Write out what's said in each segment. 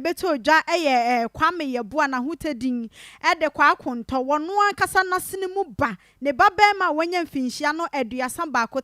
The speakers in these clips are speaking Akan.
bɛtɔɔ dwa yɛ Kwame Yeboah Nahotɛ din de Kwaa Kontɔ, wɔno ankasa n'asene mu ba, ne ba barima a wanya mfinhyia no aduasa baako,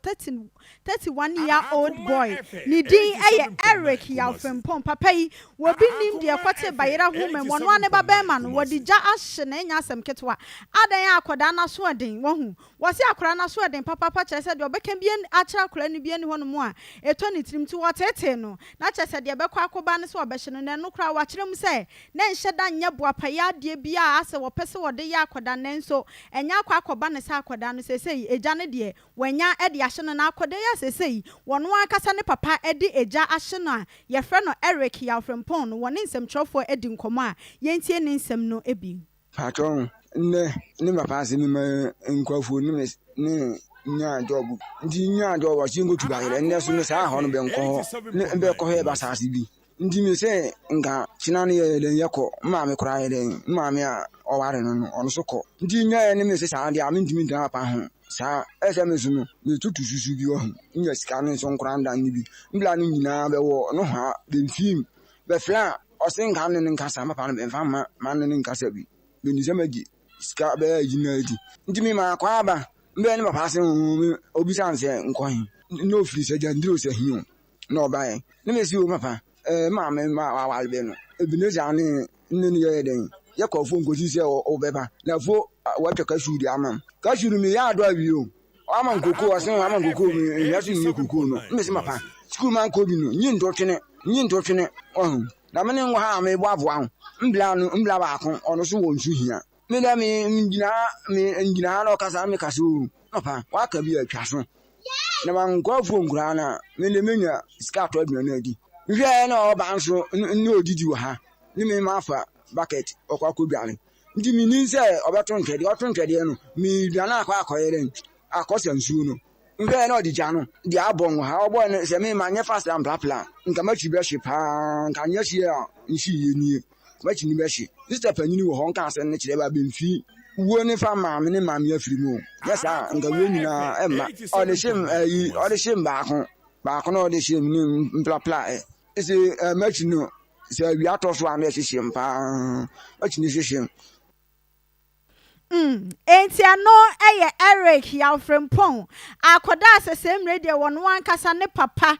31 year old boy, ne din yɛ Eric Yaw Frimpong, papa yi, wɔbi nnim deɛ ɛkɔtee bayera ho mmam, wɔno ara ne ba barima no, wɔde gya ahye no, ɛnyɛ asɛm ketewa, adɛn a akɔdaa no asoɔden, wahu, Wɔse akwadaa no asoɔden papaapa kyerɛ sɛ deɛ ɔbɛka bi akyerɛ akwadaa no bi nni hɔnom a ɛtɔ ne tirim nti wɔtetee no. Na kyerɛ sɛ deɛ ɛbɛkɔ akɔba ne sɛ wɔbɛhye no. Na ɛno koraa wɔakyerɛ mu sɛ na ɛnhyɛ da nyɛ boapayɛ adeɛ bi a asɛ wɔpɛ sɛ wɔde yɛ akwadaa nanso ɛnyɛ akɔ akɔba no sɛ akwadaa no seesei agya no deɛ wɔanya de ahye no na akwadaa yi a seesei ɔno ankasa ne papa de agya ahye no a yɛfrɛ no Eric Yaw Frimpong no wɔne nsɛmtwerɛfoɔ adi nkɔmmɔ a yɛntie ne nsɛm no bi. Patrɔ, ndɛ ne papa ase me ma nkorɔfo ne me ne nyaa job. Ntsi nyaa job ɔse yennkotu bayerɛ. Ndɛ so mese aahɔ no bɛnkɔ hɔ ne bɛkɔhwɛ ebɛsaase bi. Ntsi mese nka kyena no yɛyɛ dɛn yɛkɔ. M'maame koraa yɛ dɛn, m'maame a ɔware no no ɔno so kɔ. Ntsi nyaa yɛne mese saa de a menntumi nntsena papa ho saa. Ayɛ sɛ me so no meetutu susu bi wɔ ho, nnya sika no so nnkora nda no bi. Mbla no nyina bɛwɔ nohoa bemfii mu bɛfla a. Ɔse nka ne no nkasa papa no mfa mma ma ne no nkasa bi meni sɛ magye sika bɛyɛ agyi na adi nti me maa kɔ aba mbɛɛ ne papa ase oo me obisa ne sɛ nkɔ he na ofiri sɛ gyandiri o sɛ he o na ɔbaɛ ne me se o papa ɛɛ ma me ma wawale bɛ no Ebenezer ne ne no yɛɛ dɛn yɛkɔ afuo nkɔsi sɛ ɔbɛba na afuo watwa cashew de ama m cashew no meyɛ adɔ awie o Ɔama nkoko ɔse ɔama nkoko mu nnua so nyɛ koko no me se mapa sukuu ma nkɔ bi no nyi ntotwene nyi ntotwene ɔho na me ne ngɔ ha me bɔ aboa ho mbla no mbla baako ɔno so wɔ nsu hia me dɛ me ngyina ha me ngyina ha na ɔkasa na me kasa o papa waka bi atwa so na ma nkɔ afuo nkoraa na me de menya sika atɔ aduane no adi nhwɛ na ɔba nso ne odidi wɔ ha ne me ma afa bucket ɔkɔ akɔ dware nti mennim sɛ ɔbɛto ntwɛdeɛ ɔto ntwɛdeɛ no medwane akɔ akɔyɛ dɛn akɔsa nsuo no nhwɛɛ na ɔde gya no deɛ abɔ wɔ ha ɔbɔ no sɛ me manyɛ fast amplapla nka makyi bɛhye paa nka nyɛ hyeɛ a nhye yie nie makyi ne bɛhye sista panyini wɔ hɔ nka asɛm no kyerɛ ba bɛmfii wuo ne fa maame ne maame afiri mu nyɛ saa nka wuo nyinaa ɛmma ɔde hye ayi ɔde hye baako baako na ɔde hye ne mplapla ɛ ɛsɛ makyi no sɛ awia tɔ so a na ɛhyehyem paa, ɛtumi hyehyem. Mm, enti ɛno yɛ Eric Yawfrempong a akɔdaa sɛ sɛ mmerɛ deɛ wɔn ankasa ne papa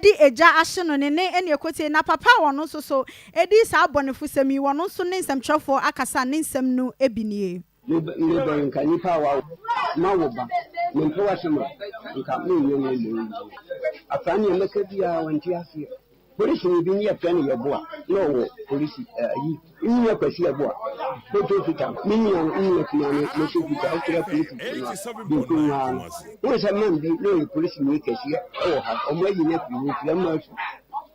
de agya ahye no ne ne ɛne ɛkɔtie na papa a wɔn nso so ɛdi saa abɔnefosɛm yi wɔn nso ne nsɛmtwerɛfoɔ akasa ne nsɛm no bi nie. Me bɛn nka nnipa a wawo ma wo ba mempɛ w'asɛm a nka menyɛ no mmɔ yi afra nea mɛka biara wante aseɛ polisi ne bi ne yɛfrɛ no yɛboa na ɔwɔ polisi ayi nyina kwasi ɛboa bɛtɔ fita me nyina nyina kuma no mɛtɔ fita wokyerɛ polisi no a bɛnku nwaa no wohu sɛ man bi na ɔyɛ polisi ne kɛseɛ ɛwɔ ha ɔmo ayi no afiri hɔ fira ma asu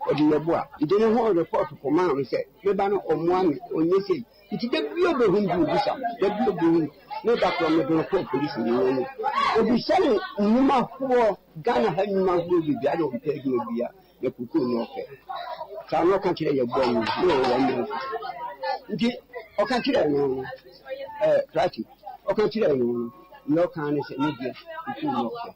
ɔde yɛboa nti ne ho report kɔmaa me sɛ meba no ɔmmoa me ɔnyɛ sei Nti da bi a obehu bi obisa, da bi a obehu ne da koro mede no kɔɔ polisi ne wɔn mu. Obisa no nnwuma hoɔ, Ghana ha nnwuma hoɔ bebia na ɔmpɛ adwuma bia na kukuu na ɔpɛ. Saa na ɔka kyerɛ yɛ bɔɔ mu ne wɔ wɔn mu. Nti ɔka kyerɛ no no, ɛɛ, krati, ɔka kyerɛ no no, na ɔka ne sɛ ne deɛ kukuu na ɔpɛ.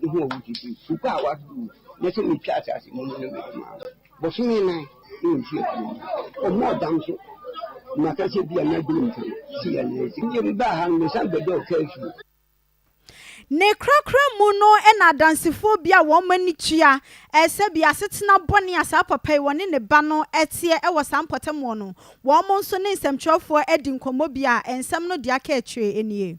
no ho awudi bi gu a wɔadodow mu na sɛ mitwa asase mu no mede ma no. Bosome nan ne mfe abien mu no, ɔmaa ɔdam so ma kasa bi a na adwene mu fɛ no sii anee. Enti bio mebaa ha no, mesan bɛdɔɔ kaa fie. Ne korakora mu no na Adansefoɔ bi a wɔn ani tua sɛbi asetena bɔne a saa papa yi, ɔne ne ba no, teɛ wɔ saa mpɔtam hɔ no, wɔn nso ne nsɛmtwerɛfoɔ adi nkɔmmɔ bi a nsɛm no deɛ aka akyire nie.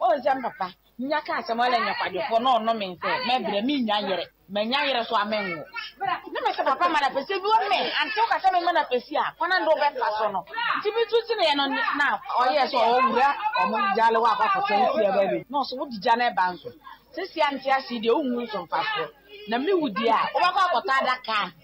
Wo nsɛm papa, nya ka asɛm ɔlɛ nyɛ kwadwofoɔ na ɔno me nsɛ mɛ brɛ me nya yere mɛ nya yere so a mɛ nwo ne me sɛ papa ma na pɛsɛ bi wɔ mɛ ante wo ka sɛ me ma na pɛsi a kwana nde ɔbɛ fa so no nti me tu tene yɛ no na ɔyɛ sɛ ɔwɔ wura ɔmo gya le wɔ akɔ akɔ sɛ nsi ɛbɛ bi na ɔso wo di gya na ɛba nso sɛ si a nte ase deɛ wo nwu nso mfa so na me wu deɛ a wo bɛ kɔ akɔ ta ada ka.